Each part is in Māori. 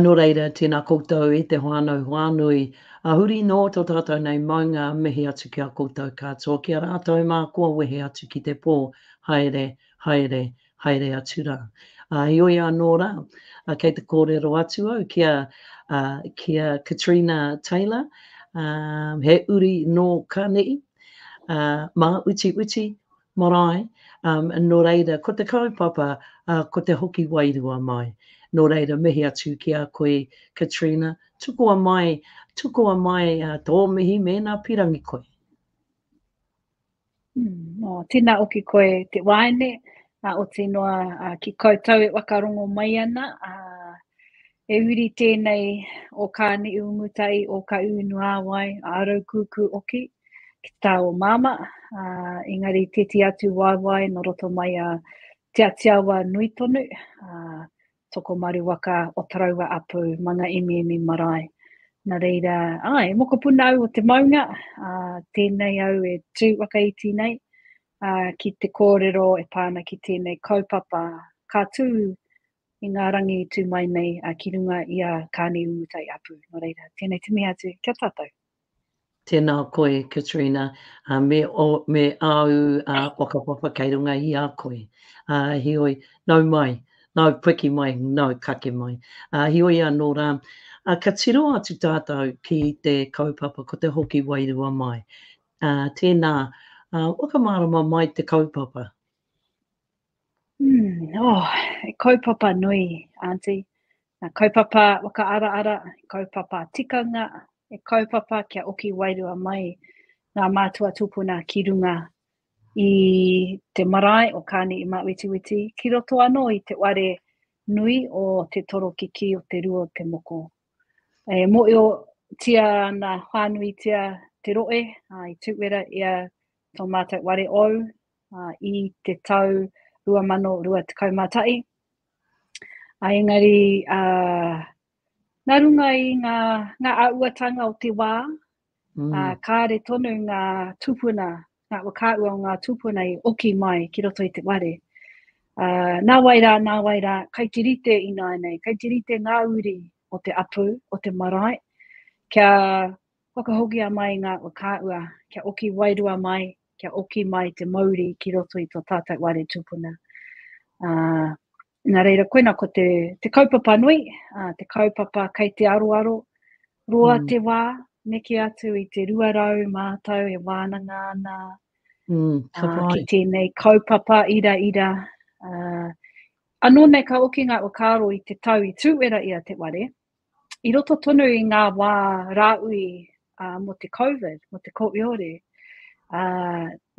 Nō reira, tēnā koutou e te whānau whānui, a huri nō tō tātou nei maunga mihi atu ki a koutou katoa, ki a rātou mā kua wehe atu ki te pō, haere, haere, haere atu rā. Ā, heoi anō rā, kei te kōrero atu au ki a, ā, ki a Katrina Taylor, ā, he uri nō Kane'i, ā, mā uti uti, Marae, nō reira, ko te kaupapa, ko te hoki wairua mai. Nō reira, mihi atu ki a koe, Katrina, tukua mai, tukua mai tō mihi mēnā pirangi koe. Nō, tēnā o ki koe te waeine, oti noa ki koutou e whakarongo mai ana, He uri tēnei o Kāniiumutai o Kaūnuāwai a Raukūkū Oki ki te tā o Māmā, ā, engari tēti atu waewae nō roto mai a Te Atiawa nui tonu, ā, Tokomaru waka o Taraua Apu, Manga Emiemi marae. Nā reira, ā, he mokopuna au o te maunga, ā, tēnei au e tū whakaiti nei, ā, ki te kōrero e pā ana ki tēnei kaupapa ka tū i ngā rangi i tū mai nei ki runga i a Kāne Umutai Apu. Nō reira, tēnei te mihi atu ki a tātou. Tēnā koe, Katrina, me ō, me āu whakapapa kei runga i a koe. Heoi, nau mai, nau piki mai, nau kake mai. Heoi anō rā, ka tiro atu tātou ki te kaupapa ko te hoki wairua mai. Tēnā, whakamārama mai te kaupapa. Mm, oh, e kaupapa nui, Auntie. Nā kaupapa whakaaraara, kaupapa tikanga, e kaupapa kia oki wairua mai ngā mātua tūpuna ki runga i te marae o Kāne i Māwetiweti, ki roto anō i te ware nui o te toro kiki o te rua o te moko. E moio tia ana whānuitia te roe, i tūwera ia tō mātou ware ou, ā, i te tau 2021, ā, engari, ā, nā runga i ngā, ngā āhuatanga o te wā, ā, kāre tonu ngā tūpuna, ngā whakaahua o ngā tūpuna i oki mai ki roto i te wāre. Ā, nā wai rā, nā wai rā, kai te rite ināianei, kai te rite ngā uri o te apu, o te marae, kia whakahokia mai ngā whakaahua, kia oki wairua mai kia oki mai te mauri ki roto i tō tātou wāre tūpuna. Uh, nā reira, koina ko te, te kaupapa nui, uh, te kaupapa kei te aroaro, roa mm. te wā, neke atu i te 200 mātou e wānanga ana mm, uh, ki tēnei kaupapa ira ira. Uh, anō nei ka oki ngā whakaaro i te tau i tūwera i a te ware, i roto tonu i ngā wā rāui mō te Covid, mō te kōiore,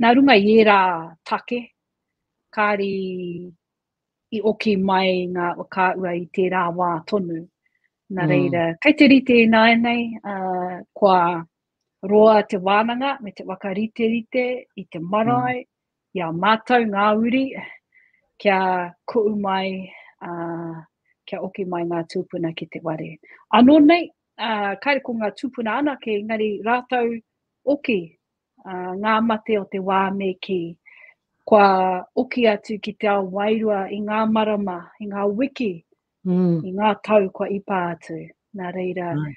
nā runga i ērā take, kāri i oki mai ngā whakaahua i tērā wā tonu. Nā mm. reira, mm. kei te rite ināianei, uh, kua roa te wānanga me te wakariterite i te marae, mm. I a mātou ngā uri, kia kuʻu mai, ā, kia oki mai ngā tūpuna ki te ware. Anō nei, ā, kāre ko ngā tūpuna anake, engari rātou oki, ā, ngā mate o te wā me kī, kua oki atu ki te ao wairua i ngā marama, i ngā wiki mm. i ngā tau kua ipa atu. Nā reira, mm.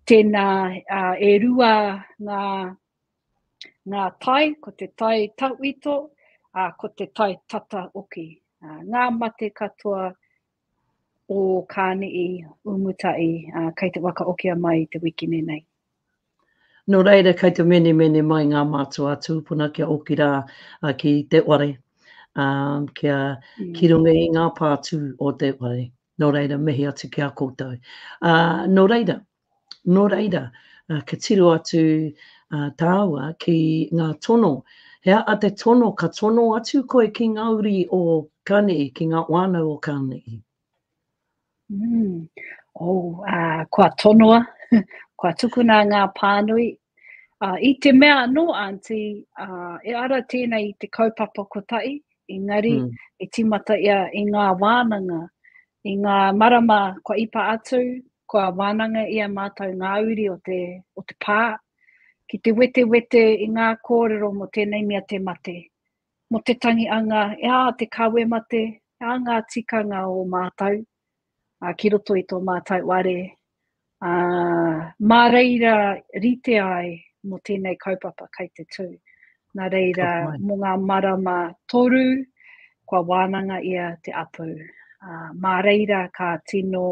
tēnā uh, e rua ngā, ngā tai, ko te tai tauito, uh, ko te tai tata oki. Uh, ngā mate katoa o Kāni'i, Umutai, uh, kei te waka okia mai te wikine nei. Nō reira kei te menemene mai ngā mātua tūpuna kia oki rā ki te whare, kia ki runga i ngā pātū o te whare. Nō reira, mihi atu ki a koutou. Nō reira, nō reira, ka tiro atu tāua ki ngā tono, he aha te tono ka tono atu koe ki ngā uri o Kanihi, ki ngā whānau o Kanihi? Mm. Oh, uh, kua tonoa, kua tukuna ngā pānui. Uh, I te mea anō, Aunty, uh, e ara tēnei i te kaupapa kotahi, engari mm. e timata ia i ngā wānanga, i ngā marama kua ipa atu, kua wānanga ia mātou ngā uri o te, o te pā, ki te wetewete i ngā kōrero mo tēnei mea te mate. Mo te tangi anga e a te kawemate a nga tikanga o mātau ki roto i to mātau ware, a, ma reira rite ai mo tenei kaupapa kai te tu. Na reira mo nga marama toru kua wānanga ia te apu, a, ma reira ka tino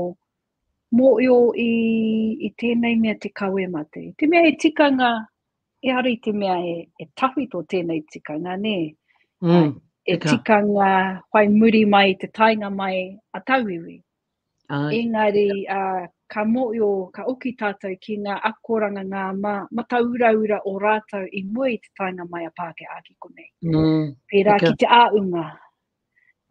moio i tenei mea te kawemate. Te mea he tikanga Ehara i te mea e, e tawhito tēnei tikanga, nē? Mm, e tika. tikanga whai muri mai te tainga mai a tauiwi. Ai. Engari, uh, ka mōio, ka oki tātou ki ngā akoranga, ngā ma, matauraura o rātou i mua i te tainga mai a Pāke Āki konei. Mm, Pērā ki te āunga,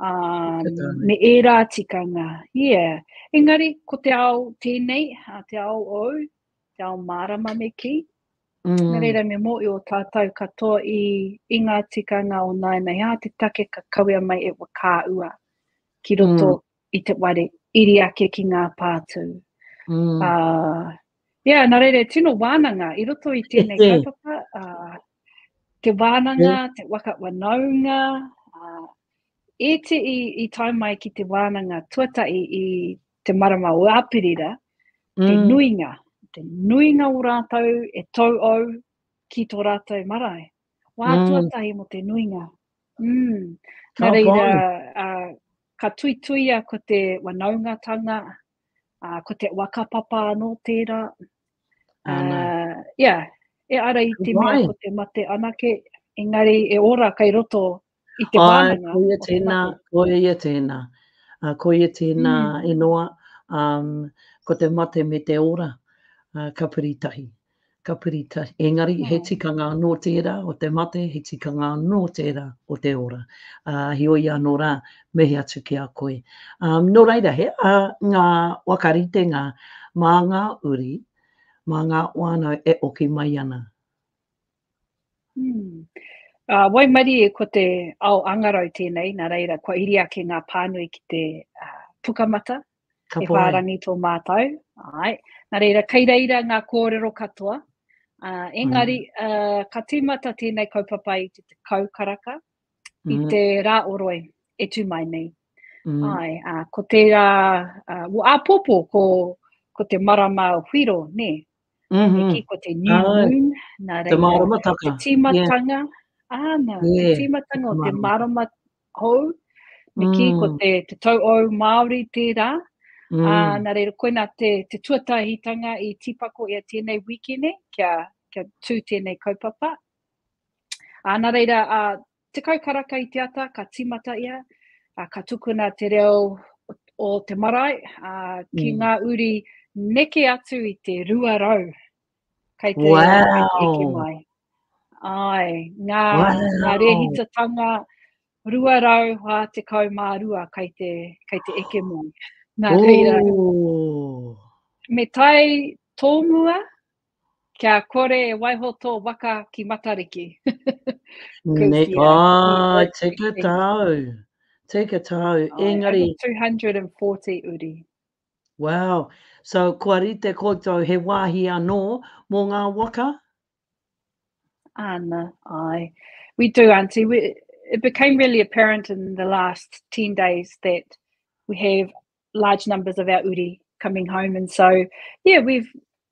um, me ērā tikanga. Yeah. Engari, ko te ao tēnei, te ao ou, te ao mārama me kī. Mm. Nā reira me mō i o tātou katoa i, i ngā tikanga o nāinei ā te take ka kawea mai e wakaua ki roto mm. i te ware iri ake ki ngā pātū. Mm. Uh, yeah, nā reira, tino wānanga i roto i tēnei kaupapa, uh, te wānanga, yeah. te waka wanaunga, uh, e te i, i tai mai ki te wānanga tuatai i te marama o Āperira, mm. te nuinga, te nuinga o rātou e tau au ki tō rātou marae. Wā mm. tuatahi mo te nuinga. Mm. Nā reira, uh, ka tuituia ko te wanaungatanga, uh, ko te wakapapa anō tērā. Uh, yeah, e ara i te mea ko te mate anake, engari e ora kai roto I te wānanga. Ko ia tēnā, ko ia tēnā. Uh, ko ia tēnā mm. e noa, um, ko te mate me te ora, uh, ka piri tahi. Ka piri tahi. Engari, oh. he tikanga anō tērā o te mate, he tikanga anō tērā o te ora. Uh, he oi anō rā, mehe atu ki a koe. Um, nō reira, he a ngā wakaritenga mā ngā uri, mā ngā wānau e oki mai ana. Waimarie ko te ao angarau tēnei, nā reira kua iri ake ngā pānui ki te pukamata, he whārangi tō mātou. Nā reira, kei reira ngā kōrero katoa, engari ka tīmata tēnei kaupapa i te tekau karaka i te rā o Roe e tū mai nei. Ko tērā, āpōpō ko te marama o Whiro, nē, Mm-hmm. Ki ko te new moon, nā reira. Te māramataka. Te tīmatanga, yeah. āna, yeah. te tīmatanga o te mārama hou. Me ki ko mm. te, te tau au Māori tērā. Mm. Ā, nā reira, koina te, te tuatahitanga i tīpako i a tēnei wikene kia, kia tū tēnei kaupapa. Ā, nā reira, ā, Tekau karaka i te ata ka tīmata ia, ā, ka tukuna te reo o te marae, ā, ki ngā uri neke atu i te 200 kei te reo e heke mai. Āe, ngā, ngā rēhitatanga 242 kei te, kei te eke mai. Nā reira, me tae tōmua Kia kore e waiho tō waka ki Matariki. Kuitia. Āe, tika tāu. Tika tāu. Engari. 240 uri. Wow. So, kua rite koutou he wāhi anō mō ngā waka? Ana, ai. We do, Auntie. We, it became really apparent in the last 10 days that we have large numbers of our uri coming home. And so, yeah, we've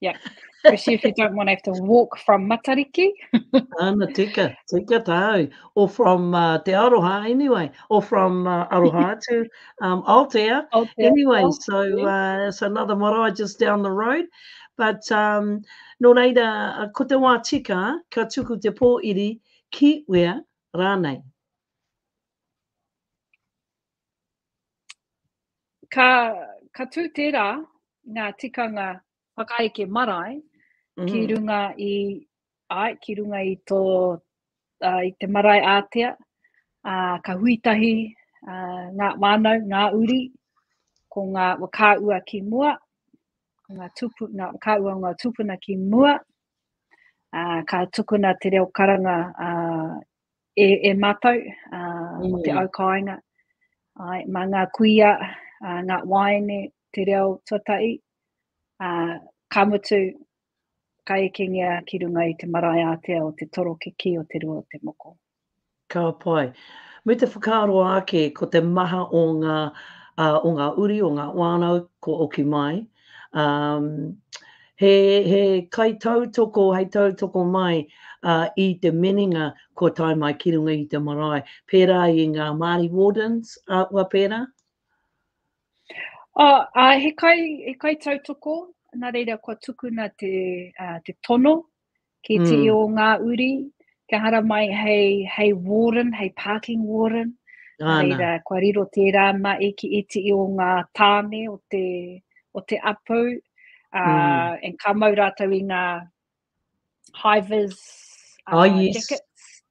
Yeah, especially if you don't want to have to walk from Matariki. Ana, tika, tika tāu. Or from uh, Te Aroha, anyway. Or from uh, Aroha to um, Aotea. Aotea. Anyway, Aotea. so uh, it's another marae just down the road. But um, no reira, uh, ko te wā tika, ka tuku te pō iri ki wea rānei. Ka tū tērā ngā tikanga whakaeke marae ki runga i, āe, ki runga i tō, i te marae ātea, ka hui tahi ngā whānau, ngā uri, ko ngā whakaahua ki mua, ko ngā tūpuna, ngā whakaahua o ngā tūpuna ki mua, ka tukuna te reo karanga E, e mātou, ā, mō te au kāinga, āe, mā ngā kuia, ā, ngā waeine, te reo tuatahi, ā, ka mutu, ka ekengia ki runga i te marae ātea o te toro ki kī o te rua o te moko. Ka pai. Me te whakaaro ake ko te maha o ngā, ā, o ngā uri, o ngā whānau kua oki mai, He kaitautoko hei tautoko mai i te minenga kua tae mai ki runga i te marae, pērā i ngā Māori Wardens, āhua pērā? He kaitautoko, nā reira kua tukuna te tono ki te mm. o ngā uri, kia haramai hei, hei warden, hei parking warden. Ana. Reira, kua riro tērā ma e ki iti i o ngā tāne o te, o te apu, uh, mm. and ka mau rātou i ngā hivers uh, oh, yes. jackets.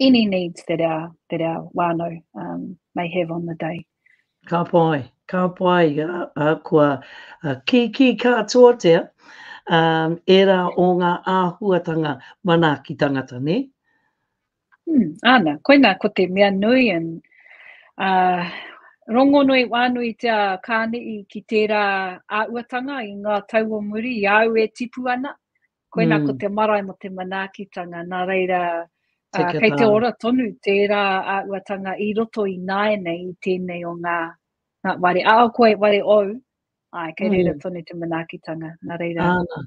any needs that our, that our whānau um, may have on the day. Ka pai, ka pai, uh, uh, kua uh, ki ki kātoatea um, era o ngā āhuatanga manaaki tangata, ne? Hmm, ana, koina ko te mea nui an uh, rongonui wānui te a kānei ki tērā āuatanga i ngā tau o muri i au e tipu ana, Koina mm. ko te marae mo te manaakitanga, nā reira uh, kei te ora tonu tērā a uatanga i roto i nae nei i tēnei o ngā, ngā ware. A o koe ware ou, ai, kei mm. reira tonu te manaakitanga, nā reira. Ana.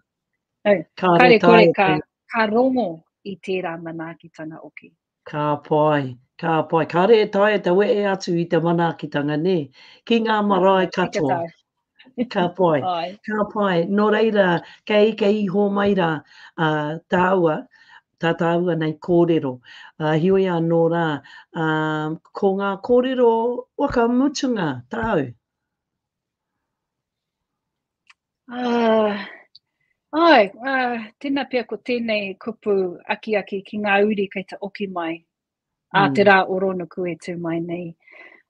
No, kare kore ka, ka rongo i tērā manaakitanga oki. Okay. Ka pai, ka pai. Kāre e taea te wehe atu i te manaakitanga, nē, ki ngā marae katoa. Ka pai, ka pai. Nō reira, kei ika iho mai rā tāua, tā tāua nei kōrero. Heoi anō rā, ko ngā kōrero whakamutunga tāu? Uh, ai, uh, tēnā pia ko tēnei kupu akiaki ki ngā uri kei te oki mai mm. a te rā o Ronuku e tū mai nei.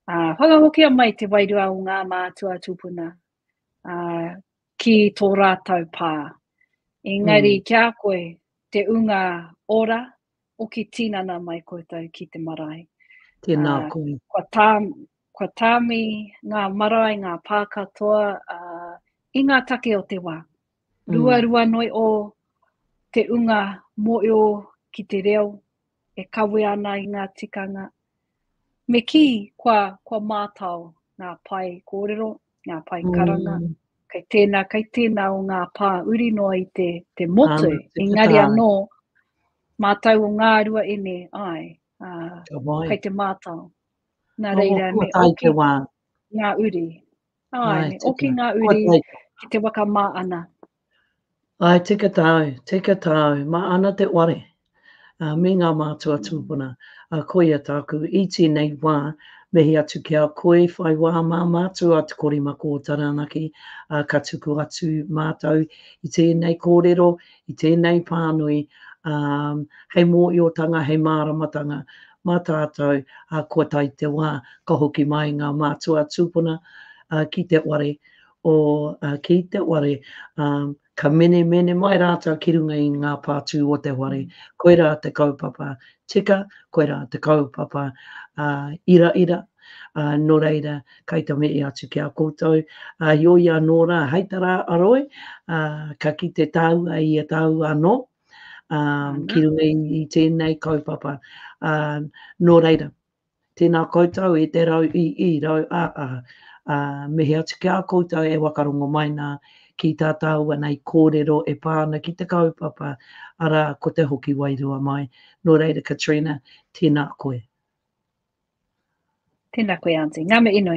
Uh, whakahokia mai te wairua o ngā mātua tūpuna uh, ki tō rātau pā. Engari mm. kia koe te unga ora, Hoki tinana mai koutou ki te marae. Tēnā koe. Kua tā, kua tāmi ngā marae, ngā pā katoa uh, i ngā take o te wā. Mm. Ruarua noi o te unga moeo ki te reo e kawe ana i ngā tikanga. Me kī, kua, kua mātao ngā pae kōrero, ngā pae karanga, mm. kei tēnā, kei tēnā o ngā pā uri noa i te, te motu, um, te engari anō, mātau o ngā rua e ne, ai, uh, kei te mātau. Nā reira, me oki wā. ngā uri. Ai, ai me oki ngā uri ki te waka mā ana. Ae tika tāu, tika tāu, ma ana te ware, a, me ngā mātua tūpuna, a koia tāku i tēnei wā, mihi atu ki a koe, whai wā mā mātou a Te Korimako o Taranaki, a ka tuku atu mātou i tēnei kōrero, i tēnei pānui, a, hei mōiotanga, hei māramatanga, mā tātou, a kua tae te wā, ka hoki mai ngā mātua tūpuna, a, ki te ware, o ki te ware, ka menemene mai rātou ki runga i ngā pātū o te ware, koirā te kaupapa tika, koirā te kaupapa iraira, nō reira, kei te mihi atu ki a koutou, heoi anō rā, hei tā rā a Roy, ka kite tāua i a tāua anō, ki runga i tēnei kaupapa, nō reira, Tēnā koutou i te rau i i rau a a, ā, me he atu ki a koutou e wakarongo mai nā, ki tā tāua nei kōrero e pā ana ki te kaupapa, arā, ko te hoki wairua mai. Nō reira, Katrina, tēnā koe. Tēnā koe, Aunty. Ngā mihi nui.